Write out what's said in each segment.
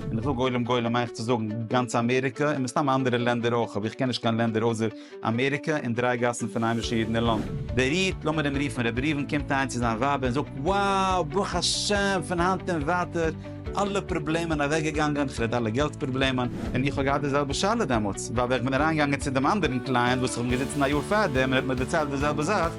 ווען איך זאג עולם גולם מיין איך צו זאגן גאנץ אמעריקע און מסתם אנדערע לענדער אויך אבער איך קען נישט קיין לענדער אויסער אמעריקע און דריי גאסן פון היימישע אידן אין לאנדאן. דער איד, לאמיר אים רופן רבי ראובן, קומט אהיים צו זיין ווייב און זאגט wow ברוך השם פון היינט און ווייטער אלע פראבלעמען אוועקגעגאנגען, כ'רעד אלע געלט פראבלעמען. און איך האב געהאט די זעלבע שאלה דעמאלטס ווייל ווען איך בין אריינגעגאנגען צו דעם אנדערן קלייענט וואס איך בין געזיצן א יאר פארדעם און ער האט מיר דערציילט די זעלבע זאך,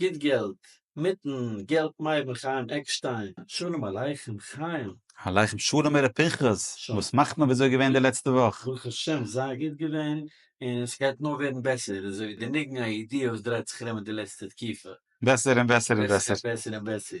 גוט געלט, מיטן געלט מיידן חיים עקשטיין, שלום עליכם חיים. עליכם שלום ר' פנחס, וואס מאכט מען וויאזוי געווען די לעצטע וואך? ברוך השם זייער גוט געווען, און ס'גייט נאר ווערן בעסער, איז אזוי ווי די ניגון הידיעה וואס דרייט זיך ארום אין די לעצטע תקופה. בעסער און בעסער און בעסער. בעסער און בעסער.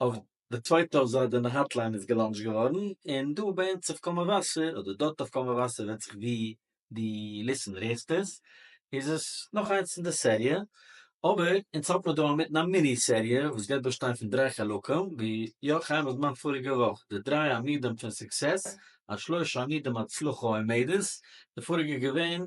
אויף די צווייטע אזוי די האטליין איז געלאנטשט געווארן, און דא ביי אונז אויף קול מבשר, אדער דארט אויף קול מבשר, ווענט זיך ווי די ליסענער הערסט עס, איז עס נאך איינס פון די סעריע, אבער אונז האפן מיר דא אינמיטן א מיני סעריע וואס גייט באשטיין פון דריי חלקים, ווי יא חיים האט געמאכט פאריגע וואך, די דריי עמודים פון סוקסעס, השלושה עמודים הצלחה עומדת, די פאריגע איז געווען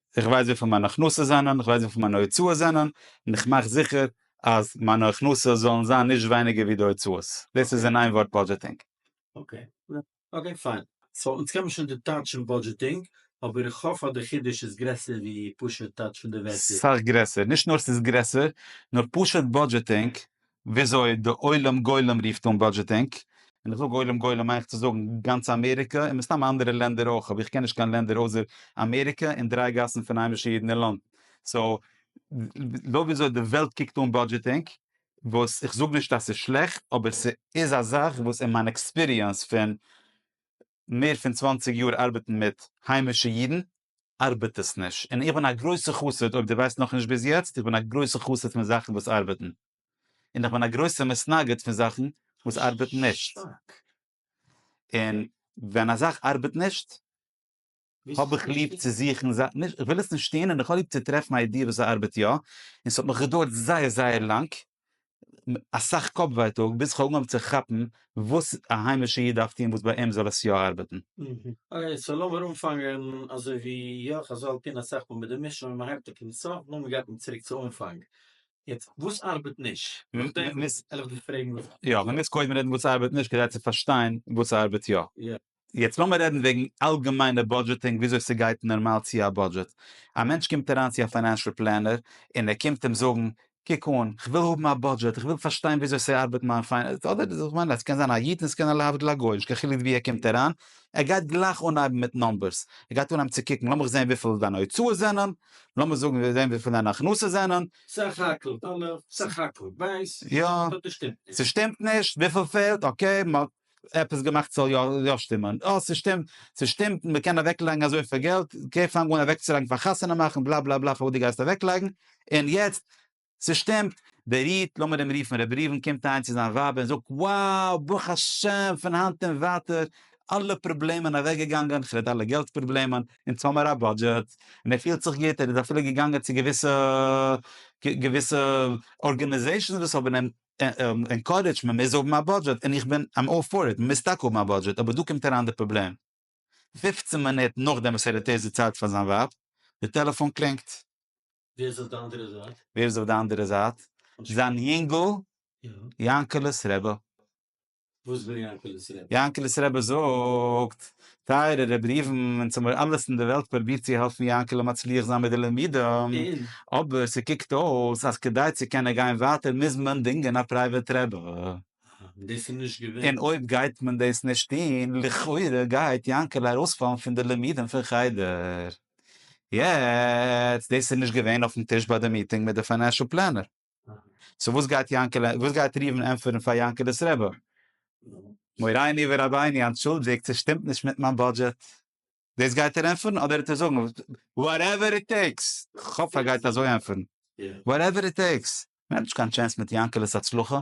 איך ווייס וויפיל מיינע הכנסות זענען, איך ווייס וויפיל מיינע הוצאות זענען, און איך מאך זיכער אז מיינע הכנסות זאלן זיין נישט ווייניגער ווי די הוצאות. דאס איז אין איין ווארט באדזשעטינג. אקעי. אקעי פיין. סאו אונז קען מען שוין די טייטש פון באדזשעטינג, אבער איך האף אז די חידוש איז גרעסער ווי פשוט טייטש פון די ווערטער. סך גרעסער. נישט נאר ס'איז גרעסער, נאר פשוט באדזשעטינג וויאזוי די עולם גולם רופט אן באדזשעטינג, און איך זאג עולם גולם מיין איך צו זאגן גאנץ אמעריקע און מסתם אנדערע לענדער אויך אבער איך קען נישט קיין לענדער אויסער אמעריקע און דריי גאסן פון היימישע אידן אין לאנדן סאו לויט וויאזוי די וועלט קוקט אן באדזשעטינג וואס איך זאג נישט אז ס'איז שלעכט אבער ס'איז א זאך וואס אין מיין עקספיריענס פון מער פון צוואנציג יאר ארבעטן מיט היימישע אידן ארבעט עס נישט, און איך בין א גרויסע חסיד, אויב דו ווייסט נאך נישט ביז יעצט, איך בין א גרויסע חסיד פון זאכן וואס ארבעטן, און איך בין א גרויסע מתנגד פון זאכן וואס ארבעטן נישט, און ווען א זאך ארבעט נישט האב איך ליב צו זוכן זאכן, נישט איך וויל עס נישט טון, און איך האב ליב צו טרעפן א איידיע וואס עס ארבעט יא, און עס האט מיך געדויערט זייער זייער לאנג, אסאך קאפ ווייטאג ביז איך האב אנגעהויבן צו כאפן וואס א היימישע איד דארף טון וואס ביי אים זאל עס יא ארבעטן. אקעי סאו לאמיר אנפאנגען אזוי ווי יא חז ל טון אסאך מאל מיט די משל ווען מען הייבט אויף פון סוף נאר מען גייט נישט צוריק צו אנפאנג, יעצט וואס ארבעט נישט? נאכדעם וועל איך דיך פרעגן וואס ארבעט יא. יא מען מוז קודם רעדן וואס ארבעט נישט כדי צו פארשטיין וואס ארבעט יא. יעצט לאמיר רעדן וועגן אלגעמיינע בודזשעטינג וויאזוי ס'גייט נארמאל צו א בודזשעט. א מענטש קומט אריין צו א פיינענשל פלענער און ער קומט אים זאגן, קוק אן, כ'וויל האבן א בודזשעט, איך וויל פארשטיין וויאזוי ס'ארבעט מיין פיינענס, אדער כ'מיין ס'קען זיין א איד און ס'קען להבדיל א גוי, נישט קיין חילוק ווי ער קומט אריין, ער גייט גלייך אנהייבן מיט נומבערס, ער גייט אנהייבן צו קוקן, לאמיך זען וויפיל דיינע הוצאות זענען, לאמיר זאגן זען וויפיל דיינע הכנסות זענען. סך הכל דאלער, סך הכל בייס, ס'שטימט נישט. ס'שטימט נישט, וויפיל פעלט, אקעי. עפעס געמאכט ס'זאל יא יא שטימען, אה ס'שטימט ס'שטימט און מ'קען אוועקלייגן אזויפיל געלט, גיי פאנג אן אוועקצולייגן פאר חתונה מאכן בלאַ בלאַ בלאַ פארוואס דו גייסט אוועקלייגן, און יעצט ס'שטימט, דער איד, לאמיר אים רופן רבי ראובן, קומט אהיים צו זיין ווייב און זאגט wow ברוך השם פון היינט און ווייטער אלע פראבלעמען אוועקגעגאנגען, כ'רעד אלע געלט פראבלעמען, אונז האמיר א בודזשעט, און ער פילט זיך גוט, ער איז אפילו געגאנגען צו געוויסע געוויסע ארגענעזעישאנס וואס האבן אים ענקארעדזשט מען מוז האבן א בודזשעט און איך בין איים אלל פאר איט מ'מוז טאקע האבן א בודזשעט אבער דא קומט אריין די פראבלעם פֿופֿצן מינוט נאכדעם וואס ער האט ערשט דערציילט פאר זיין ווייב די טעלעפאן קלינגט. ווער איז אויף די אנדערע זייט? ווער איז אויף די אנדערע זייט? זיין יונגל יענקעלע'ס רבי. וואס וויל יענקעלעס רבי? יענקעלעס רבי זאגט, טייערע רבי ראובן, אונז האבן מיר אלעס אין די וועלט פרובירט צו העלפן יענקעלע מצליח זיין מיט די לימודים, אבער ס'קוקט אויס אז כדי צו קענען גיין ווייטער מוז מען דינגען א פרייוועט רבי. און דאס איז נישט געווען. און אויב גייט מען דאס נישט טון, לכאורה גייט יענקעלע ארויספאלן פון די לימודים פון חדר. יעצט, דאס איז נישט געווען אויפן טיש ביי די מיטינג מיט די פיינענשל פלענער. סאו וואס גייט יענקעלע וואס גייט ראובן ענטפערן פאר יענקעלע'ס רבי? מוריני ורביני אנטשולדיגט ס'איז שטימט נישט מיט מיין בודזשעט. דאס גייט ער ענטפערן אדער וועט ער זאגן וואטעווער איט טעיקס? כ'האף ער גייט אזוי ענטפערן וואטעווער איט טעיקס. מ'האט נישט קיין טשענס מיט יענקעלע'ס הצלחה.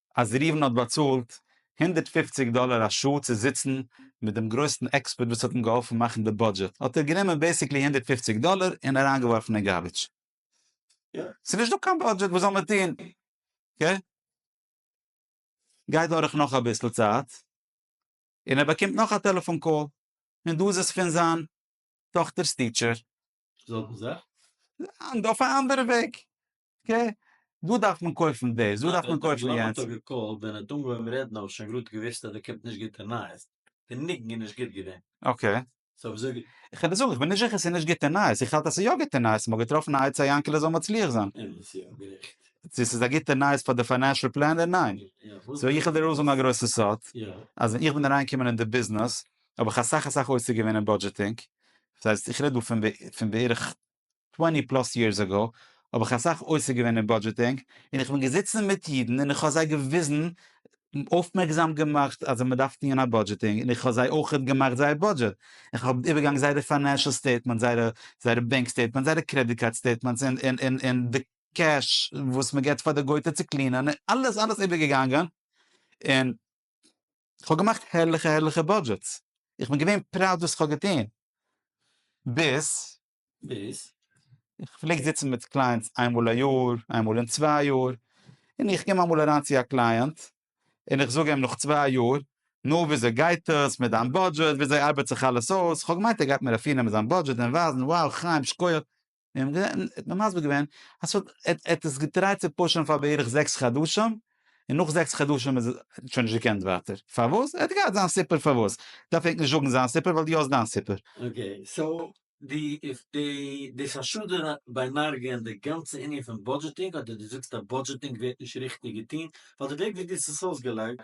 אז ראובן האט באצאלט הונדערט פֿופֿציק דאלער א שעה צו זיצן מיט דעם גרויסן עקספערט וואס האט אים געהאלפן מאכן די בודזשעט האט ער גענומען בעיסיקלי הונדערט פֿופֿציק דאלער און אריינגעווארפן אין גארביטש. ס'איז נישט דא קיין בודזשעט וואס זאל מען טון? קעי. גייט דורך נאך אביסל צייט און ער באקומט נאך א טעלעפאן קאל און דא איז עס פון זיין טאכטער'ס טיטשער. זעלבע זאך? ניין, דא אויף א אנדערע וועג. קע, דא דארף מען קויפן דאס, דא דארף מען קויפן יענץ. נאכדעם האט ער געקאלט, ווען ער האט אנגעהויבן רעדן האב איך שוין גראד געוואוסט אז דא קומט נישט גוטע נייעס, די ניגון איז נישט גוט געווען. אקעי. סאו וויאזוי גייט. איך וועל דיר זאגן, איך בין נישט זיכער ס'איז נישט גוטע נייעס, איך האלט אז ס'איז יא גוטע נייעס, מ'האט געטראפן א עצה יענקעלע זאל מצליח זיין. אמת, יא, גערעכט. צו ס'איז א גוטע נייעס פאר די פיינענשל פלענער? ניין. סאו איך וועל דיר אויסזאגן א גרויסע סוד, אז ווען איך בין אריינגעקומען אין די ביזנעס האב איך אסאך אסאך עוסק געווען אין בודזשעטינג, ס'הייסט איך רעד דא פון בערך טווענטי פלאס יערס אגאו האב איך אסאך עוסק געווען אין בודזשעטינג, און איך בין געזיצן מיט אידן און איך האב זיי געוויזן, אויפמערקזאם געמאכט אז מען דארף טוען א בודזשעטינג, און איך האב זיי אויך געמאכט זייער בודזשעט, איך האב איבערגעגאנגען זייערע פיינענשעל סטעיטמענטס, זייערע זייערע בענק סטעיטמענטס, זייערע קרעדיט קארד סטעיטמענטס, און און און און די קעש וואס מען געבט פאר די גויטע צו קלינען, און אלעס אלעס איבערגעגאנגען, און. כ'האב געמאכט הערליכע הערליכע באדזשעטס, איך בין געווען פראוד וואס כ'האב געטון, ביז. ביז? איך פלעג זיצן מיט קלייענטס איין מאל א יאר, איין מאל אין צוויי יאר, און איך קום אמאל אריין צו א קלייענט, און איך זאג אים נאך צוויי יאר, נו וויאזוי גייט עס מיט דיין באדזשעט, וויאזוי ארבעט זיך אלעס אויס, כ'האב געמיינט ער גייט מיר אפירנעמען זיין באדזשעט און ווייזן, wow חיים שקויעך, מיר האבן געזען, ער האט מיר מסביר געווען, אז ס'האט, ער האט עס געטרייט צו פושען פאר בערך זעקס חדשים, און נאך זעקס חדשים איז עס, ער האט שוין נישט געקענט ווייטער. פארוואס? ער האט געהאט זיין סיפור פארוואס. דארף ענק נישט זאגן זיין סיפור ווייל דו האסט דיין סיפור. אקעי, סאו, די, די, די חשד ביי מרגי איז די גאנצע ענין פון בודזשעטינג, אדער דו זאגסט אז בודזשעטינג ווערט נישט ריכטיג געטון, ווייל די וועג ווי דו האסט עס אויסגעלייגט,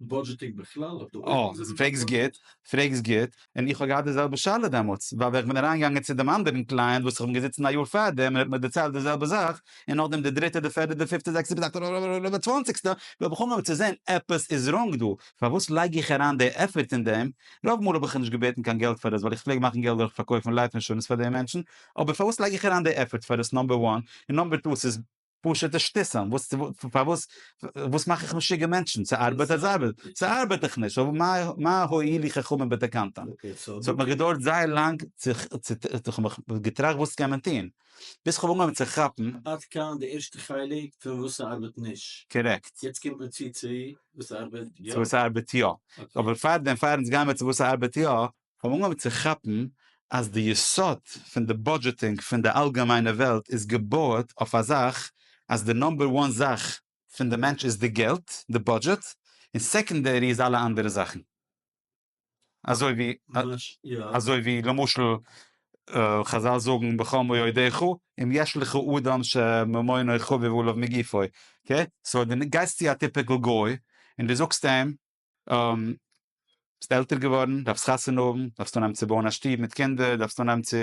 בודזשעטיג בכלל אויף די אויערן. אה, פרעגסט גוט, פרעגסט גוט, און איך האב געהאט די זעלבע שאלה דעמאלטס, ווייל ווען איך בין אריינגעגאנגען צו דעם אנדערן קלייענט וואס איך בין געזיצן א יאר פארדעם און ער האט מיר דערציילט די זעלבע זאך, און נאכדעם די דריטע די פערטע די פיפטע זעקסטע ביז אקטאבער צוואנציגסטע, וויל איך אנהויבן צו זען עפעס איז ראנג דא, פארוואס לייג איך אריין די עפערט אין דעם, רוב מאל האב איך נישט געבעטן קיין געלט פאר עס ווייל איך פלעג מאכן געלט דורך פארקויפן לייף אינשורענס פאר די מענטשן, אבער פארוואס לייג איך אריין די עפערט פאר עס נאמבער וואן, און נאמבער טו עס איז. פשוטע שטיסען, וואס צו וואס, פארוואס, וואס מאך איך משוגע מענטשן, ס'ארבעט אז ארבעט, ס'ארבעט דאך נישט, מה הועילו חכמים בתקנתם, ס'האט מיר געדויערט זייער לאנג צו כ'האב מיך געטראכט וואס קען מען טוהן, ביז כ'האב אנגעהויבן צו כאפן. עד כאן די ערשטע חלק פון וואס ס'ארבעט נישט. קארעקט. יעצט קומט מען צו צו וואס ס'ארבעט יא. צו וואס ס'ארבעט יא. אבער פארדעם, פאר אונז גייען מיר צו וואס ס'ארבעט יא, כ'האב אנגעהויבן צו כאפן אז די יסוד פון די בודזשעטינג פון די אלגעמיינע וועלט איז געבויעט אויף א זאך אז די נאמבער וואן זאך פון די מענטש איז די געלט, די בודזשעט, און סעקאנדערי איז אלע אנדערע זאכן. אזוי ווי אזוי ווי למשל חזל זאגן בחום אוידיך אם יש לך אדם שממונו חביב עליו מגופו, אקעי, סאו די גייסט צו א טיפיקעל גוי און די זאגסט אים ביסט עלטער געווארן, דארפסט חתונה האבן, דארפסט אנהייבן צו בויען א שטוב מיט קינדער, דארפסט אנהייבן צו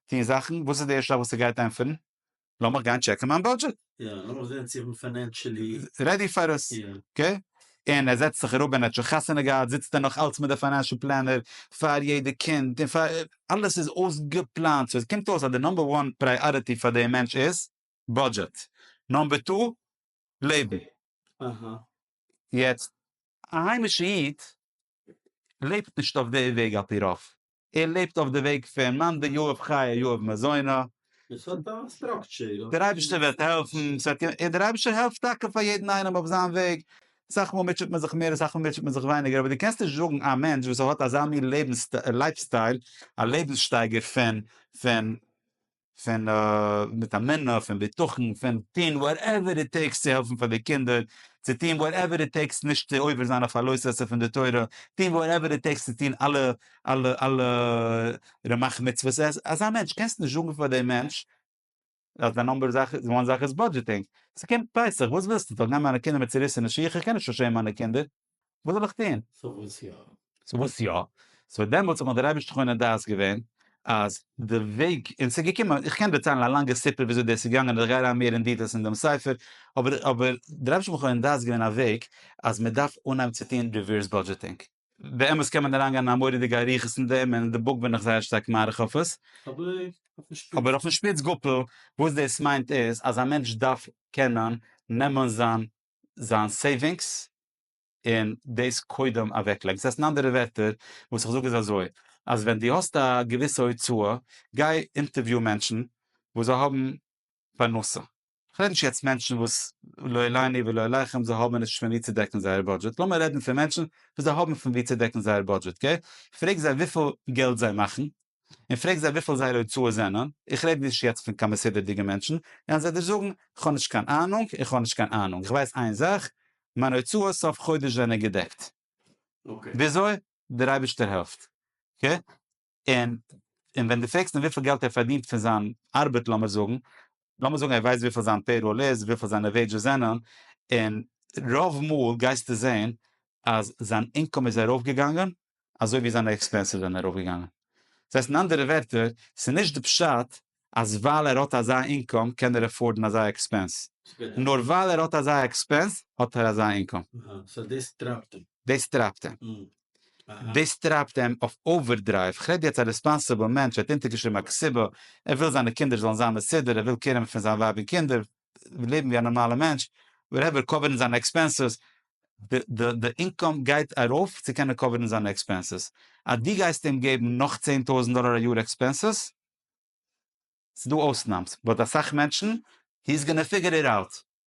טון זאכן, וואס איז די ערשטע זאך וואס ער גייט ענטפערן? לאמיך גיין טשעקן מיין בודזשעט. יא, לאמיך זען צו איך בין פיינענשעלי. רעדי פאר עס. יא. אקעי? און ער זעצט זיך אראפ ווען ער האט שוין חתונה געהאט, זיצט ער נאך אלץ מיט די פיינענשעל פלענער פאר יעדע קינד, און פאר, אלעס איז אויסגעפלאנט, סאו עס קומט אויס אז די נאמבער וואן פריאריטי פאר די מענטש איז בודזשעט, נאמבער טו לעבן. יעצט, א היימישע איד לעבט נישט אויף די וועג על פי רוב. ער לעבט אויף די וועג פון מאן דאיוב חיי יאהב מזונו. עס האט א סטראקטשער. דער אייבערשטער וועט העלפן, ס'וועט קומען, און דער אייבערשטער העלפט טאקע פאר יעדן איינעם אויף זיין וועג. אסאך מאל מוטשעט מען זיך מער, אסאך מאל מוטשעט מען זיך ווייניגער, אבער דו קענסט נישט זאגן א מענטש וואס האט אזא מין לעבנס לייף סטייל, א לעבנס שטייגער פון פון פון מיט א מינע פון בטחון פון טוהן וואטעווער איט טעיקס צו העלפן פאר די קינדער, צו טוהן וואטעווער איט טעיקס נישט צו עובר זיין אויף א לא תעשה פון די תורה, טוהן וואטעווער איט טעיקס צו טוהן אלע אלע אלע רמח מצוות, אזא מענטש קענסט נישט זאגן פאר די מענטש אז די נומבער זאך די וואן זאך איז בודזשעטינג, ס'קומט פסח וואס ווילסטו כ'זאל גיין מיט מיינע קינדער מיט צוריסענע שיך? כ'קען נישט אנשען מיינע קינדער. וואס זאל איך טון? סאו וואס יא? סאו וואס יא? סאו דעמאלטס האט מיך דער אייבערשטער חונן דעת געווען אז די וועג, און ס'איז געקומען, איך קען דערציילן א לאנגע סיפור וויאזוי דאס איז געגאנגען און איך גיי אריין מער אין דיטעלס אין דעם ספר, אבער אבער דער אייבערשטער האט מיך חונן דעת געווען א וועג אז מען דארף אנהייבן צו טון ריווערס בודזשעטינג. באמת קען מען אריינגיין אין א מורא'דיגע אריכות אין דעם און אין די בוק בין איך זייער שטארק מאריך אויף עס, אבער אויפן שפיץ גאפל וואס דאס מיינט איז אז א מענטש דארף קענען נעמען זיין זיין סעיווינגס און דאס קודם אוועקלייגן. דאס הייסט אין אנדערע ווערטער וואס איך זאג איז אזוי, אז ווען דו האסט א געוויסע הוצאה, גיי אינטערוויו מענטשן וואס זיי האבן פרנסה. כ'רעד נישט יעצט מענטשן וואס לא עליני ולא עליכם, זיי האבן נישט פון וואו צו דעקן זייער בודזשעט, לאמיר רעדן פון מענטשן וואס זיי האבן פון וואו צו דעקן זייער בודזשעט, אקעי? פרעג זיי וויפיל געלט זיי מאכן, און פרעג זיי וויפיל זייערע הוצאות זענען, איך רעד נישט יעצט פון קיין מסודר'דיגע מענטשן, וועלן זיי דיר זאגן, איך האב נישט קיין אהנונג, איך האב נישט קיין אהנונג, איך ווייס איין זאך, מיינע הוצאות סוף חודש זענען געדעקט. וויאזוי? דער אייבערשטער העלפט. און ווען דו פרעגסט אים וויפיל געלט ער פארדינט פון זיין ארבעט לאמיר זאגן, לאמיר זאגן ער ווייסט וויפיל זיין פעיראל איז, וויפיל זיינע וועידזשעס זענען, און רוב מאל גייסטו זען אז זיין אינקאם איז ארויפגעגאנגען אזוי ווי זיינע עקספענסעס זענען ארויפגעגאנגען. דאס הייסט אין אנדערע ווערטער, ס'איז נישט די פשט אז ווייל ער האט אזא אינקאם קען ער עפארדן אזא עקספענס, נאר ווייל ער האט אזא עקספענס האט ער אזא אינקאם. אהא, סאו דאס טרייבט אים. דאס טרייבט אים. דאס טרייבט אים אויף אווערדרייוו, כ'רעד יעצט א ריספאנסיבל מענטש, ער האט אונטערגעשריבן א קציבה, ער וויל זיינע קינדער זאלן זיין מסודר, ער וויל קעיר האבן פון זיין ווייב און קינדער, לעבן ווי א נארמאלער מענטש, וואטעווער, קאווערן זיינע עקספענסעס, די אינקאם גייט ארויף צו קענען קאווערן זיינע עקספענסעס, אז דו גייסט אים געבן נאך צען טויזנט דאלער א יאר עקספענסעס, ס'דא אויסנאמס, באט אסאך מענטשן, הי איז גאנא פיגער איט אוט.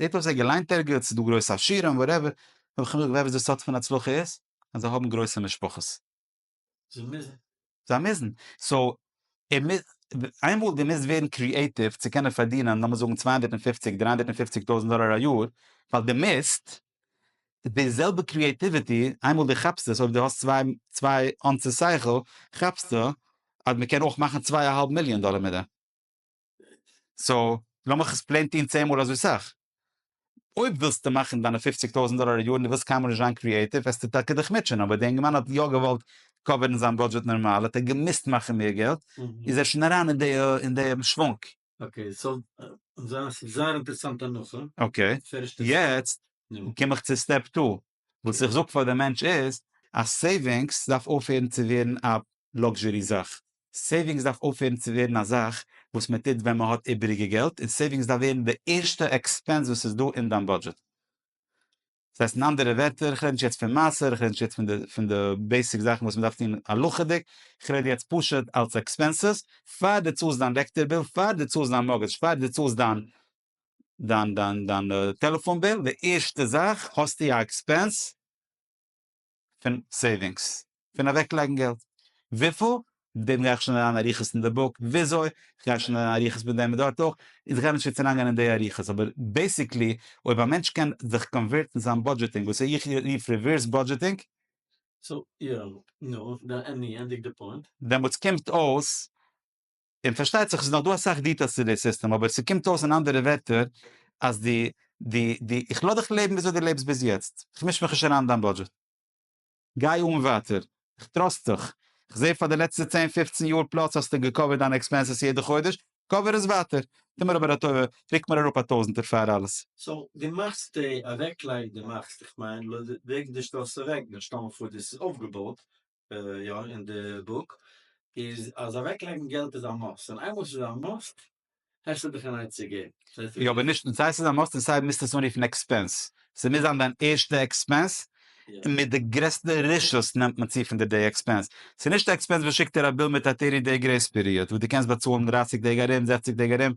איך האב זיי געליינט ערגעץ דא גרויסע עשירים וואטעווער האב איך מיר געווער וואס די סוד פון הצלחה איז אז זיי האבן גרויסע משפחות זיי מוזן זיי מוזן סאו ער מוז איינמאל די מוזט ווערן קריעטיוו צו קענען פארדינען לאמיר זאגן צוויי הונדערט און פופציג דריי הונדערט און פופציג טויזנט דאלער א יאר ווייל די מוזט די זעלבע קריעטיוויטי איינמאל די כאפסט עס אויב די האסט צוויי צוויי אונסעס שכל כאפסטו אז מען קען אויך מאכן צוויי א האלב מיליאן דאלער מיט דעם. סאו לאמיך עס פלעין טוהן צען מאל אזוי סאך. אויב ווילסטו מאכן דיינע פופציג טויזענט דאלער א יאר און די ווילסט קיינמאל נישט זיין קריעטיוו וועסטו טאקע דיך מוטשען אבער די אינגערמאן האט יא געוואלט קאווערן זיין בודזשעט נארמאל האט ער געמוזט מאכן מער געלט איז ער שוין אריין אין די שוואונג. אקעי סאו זייער אינטערעסאנט הנחה. אקעי יעצט קום איך צו סטעפ טו. וואס איך זאג פאר די מענטש איז אז סעיווינגס דארף אויפהערן צו ווערן א לאקזשערי זאך, סעיווינגס דארף אויפהערן צו ווערן א זאך וואס מען טוט ווען מען האט איבעריגע געלט, און סעיווינגס דארף ווערן די ערשטע עקספענס וואס איז דא אין דיין בודזשעט. דאס הייסט אין אנדערע ווערטער, איך רעד נישט יעצט פון מעשר, איך רעד נישט יעצט פון די בעיסיק זאכן וואס מען דארף טון הלכה'דיג, איך רעד יעצט פשוט אלס עקספענסעס, פאר דו צאלסט דיין לעקטער ביל, פאר דו צאלסט דיין מארגעדזש, פאר דו צאלסט דיין דיין דיין דיין טעלעפאן ביל, די ערשטע זאך האסטו א עקספענס פון סעיווינגס, פון אוועק לייגן געלט, וויפיל? דעם גיי איך שוין אריין אריכות אין די בוק וויאזוי, כ'גיי שוין אריין אריכות מיט דעם מיט דארט אויך, איך גיי נישט יעצט אריין גיין אין די אריכות, אבער בעיסיקלי אויב א מענטש קען זיך קאנווערטן זיין בודזשעטינג וואס איך רוף ריווערס בודזשעטינג, סאו יא, נו, עני ענדיג די פוינט? דעמאלטס קומט אויס און פארשטייט זיך עס איז נאך דא אסאך דיטעילס צו די סיסטעם אבער ס'קומט אויס אין אנדערע ווערטער אז די די די איך לאז דיך לעבן וויאזוי די לעבסט ביז יעצט איך מיש מיך נישט אריין אין דיין בודזשעט גיי אן ווייטער איך טראסט דיך איך זעה פאר די לעצטע צען פופצן יאר פלאס האסטו געקאווערט דיינע עקספענסעס יעדע חודש קאווער עס ווייטער טו מיר אבער א טובה רוק מיר אראפ א טויזענטער פאר אלעס. סאו די מאכסט די אוועקלייג די מאכסט איך מיין לויט ווי די שטעלסט אוועק ווען שטעל מיר פאר דאס איז אויפגעבויט יא אין די בוק איז אז אוועק לייגן געלט איז א מאסט און איינמאל ס'איז א מאסט הערשט זיך דיך אריין צו געבן. יא אבער נישט און סיי ס'איז א מאסט און סיי מוזט עס אנרופן עקספענס ס'מוז זיין דיין ערשטע עקספענס און מיט די גרעסטע רשות נעמט מען צו פון דיר די עקספענס ס'איז נישט א עקספענס וואס שיקט דיר א ביל מיט א טערטי דעי גרעיס פיריאד וואס דו קענסט באצאלן דרייסיג טעג ארום זעכציג טעג ארום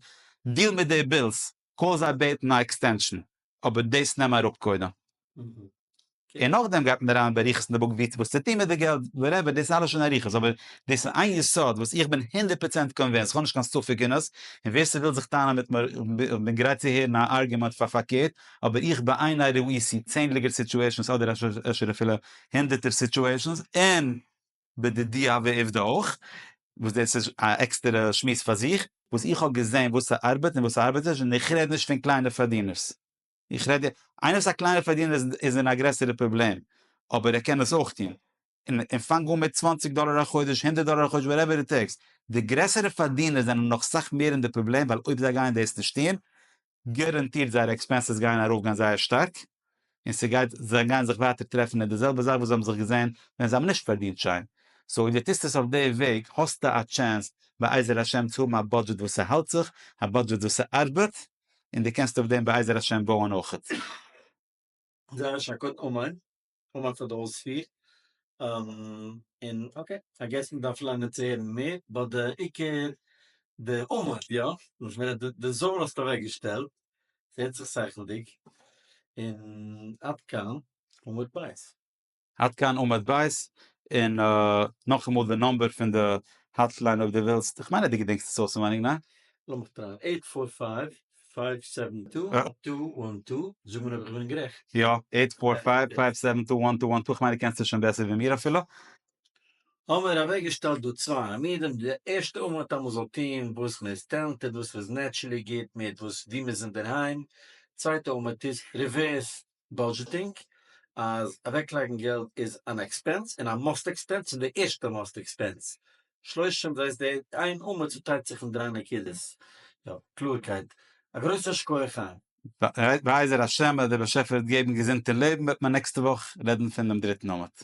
דיל מיט די בילס. קען זיי בעטן א עקסטענשאן, אבער דאס נעם אראפ קודם, און נאכדעם גייט מען אריין באריכות אין די בוק ווי וואס צו טון מיט די געלט, וואטעווער, דאס איז אלעס שוין אריכות, אבער דאס איז איין יסוד וואס איך בין הונדערט פראצענט קאנווינסט, איך האב נישט קיין ספק אין עס, און ווער ס'וויל זיך טענה'ן מיט מיר, איך בין גרייט צו הערן א ארגומענט פאר פארקערט, אבער איך בעיני ראי' סי צענדליגער סיטואשענס אדער אפשר אפילו הונדערטער סיטואשענס, און בדיעה ועובדה אויך, וואס דאס איז א עקסטערע שמועס פאר זיך, וואס איך האב געזען וואס ס'ארבעט און וואס ס'ארבעט נישט, און איך רעד נישט פון קליינע פארדינערס, איך רעד, איינער וואס איז א קליינער פארדינער איז איז אין א גרעסערע פראבלעם, אבער ער קען עס אויך טון, און און פאנג אן מיט צוואַנציק דאלער א חודש, הונדערט דאלער א חודש, וואטעווער איט טעיקס, די גרעסערע פארדינער זענען נאך סאך מער אין די פראבלעם, ווייל אויב זיי גייען דאס נישט טון, גאראנטירט זייערע עקספענסעס גייען ארויף גיין זייער שטארק, און ס'גייט זיי גייען זיך ווייטער טרעפן אין די זעלבע זאך וואס זיי האבן זיך געזען ווען זיי האבן נישט פארדינט שיין, סאו אויב די טוסט עס אויף די וועג האסטו א טשענס בעזר השם צו האבן א בודזשעט וואס ס'האלט זיך, א בודזשעט וואס ס'ארבעט, און די קענסט אויף דעם בעזר השם בויען אויכעט. זייער א שאק אן אומאן אומאן פאר די אויספיר און אקעי איי געס מען דארף לערנען צו הערן מער באט די עיקר די אומאן יא וואס מען רעדט די זאל האסטו אוועק געשטעלט ס'הערט זיך סכנה'דיג און עד כאן ומבית. עד כאן עמוד ב', און נאכאמאל די נאמבער פון די האטליין אויב די ווילסט, איך מיין אז די געדענקסט עס אויסענווייניג ניין? לאמיך טרייען, עיט פאר פייוו פייוו סעווען טו טו וואן טו, זאג מיר אויב איך בין גערעכט. יא, עיט פאר פייוו פייוו סעווען טו וואן טו וואן טו, איך מיין די קענסט עס שוין בעסער ווי מיר אפילו. האמיר אוועק געשטעלט דא צוויי עמודים, די ערשטע עמוד אז מען זאל טוהן וואס מען איז טעלענטעד, וואס מען איז נעטשערלי גוט מיט, וואס ווי מען איז אינדערהיים, צווייטע עמוד איז ריווערס בודזשעטינג אז אוועקלייגן געלט איז אן עקספענס און א מאסט עקספענס און די ערשטע מאסט עקספענס שלושים דאס איז די איין אמער צוטיילט זיך אין דריי נקודות יא קלארקייט א גרויסע שכוח חיים. בעזר השם אז דער באשעפער וועט געבן געזונט און לעבן וועט מען נעקסטע וואך רעדן פון דעם דריטן אמט.